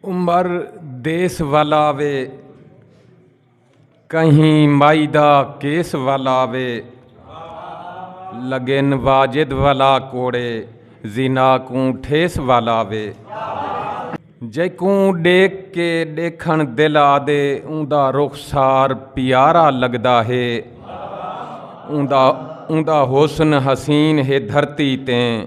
عمر دیس ولا وے کہیں مائی دا کیس ولا وے لگن واجد ولا کوڑے زنا کوں ٹھیس ولا وے جیکوں ڈیکھ کے ڈیکھن دل آدے اوندا رخسار پیارا لگدا ہے اوندا اوندا حسن حسین ہے دھرتی تیں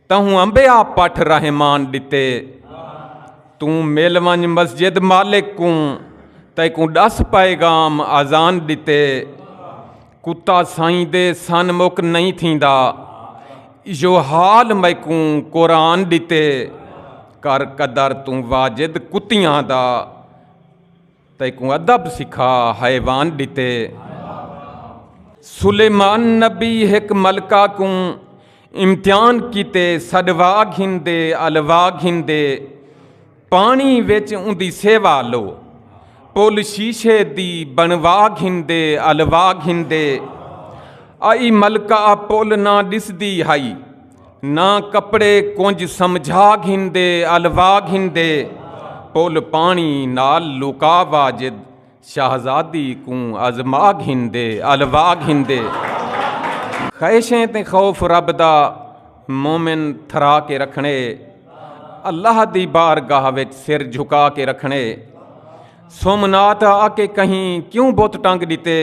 تہوں امبیا پٹھ رحمان ڈتے توں مل ونج مسجد مالک کوں تیکوں ڈس پیغام اذان ڈتے کتا سائیں دے سن مک نہیں تھیندا ایو حال میکوں قرآن ڈتے کر قدر توں واجد کتیاں دا تیکوں ادب سکھا حیوان ڈتے سلیمان نبی ہک ملکہ کوں امتحان کیتے سڈوا گھندے الوا گھندے پانی وچ اندی سیوا لو پل شیشے دی بنوا گھندے الوا گھندے آئی ملکہ پل نہ ڈسدی ہائی نہ کپڑے کنج سمجھا گھندے الوا گھندے پل پانی نال لکا واجد شہزادی کوں ازما گھندے الوا گھندے خیشیں تے خوف رب دا مومن تھرا کے رکھنے اللہ دی بارگاہ وچ سر جھکا کے رکھنے سومنات آ کے کہیں کیوں بت ٹنگ ڈتے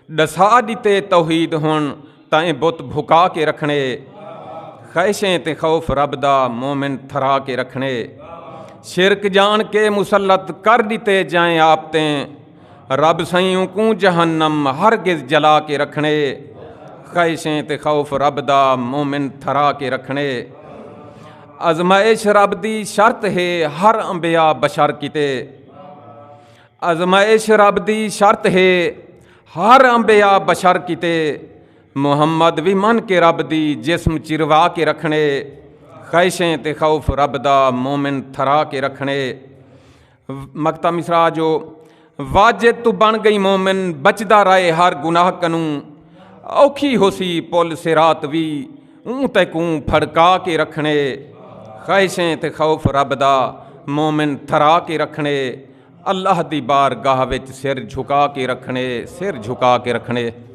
ڈسا ڈتے توحید ہن تاں اے بت بھکا کے رکھنے خیشیں تے خوف رب دا مومن تھرا کے رکھنے شرک جان کے مسلط کر ڈتے جائیں آپ تے رب سائیوں کو جہنم ہرگز جلا کے رکھنے خیشیں تے خوف رب دا مومن تھرا کے رکھنے ازمائش رب دی شرط ہے ہر انبیاء بشر کیتے آزمائش رب دی شرط ہے ہر انبیاء بشر کیتے محمد وی من کے رب دی جسم چروا کے رکھنے خیشیں تے خوف رب دا مومن تھرا کے رکھنے مکتا مصرا جو واجد تو بن گئی مومن بچدا رائے ہر گناہ کنوں اوکھی ہو سی پل سرات وی اون تے کوں پھڑکا کے رکھنے خیشیں تے خوف رب دا مومن تھرا کے رکھنے اللہ دی بارگاہ وچ سر جھکا کے رکھݨے سر جھکا کے رکھݨے۔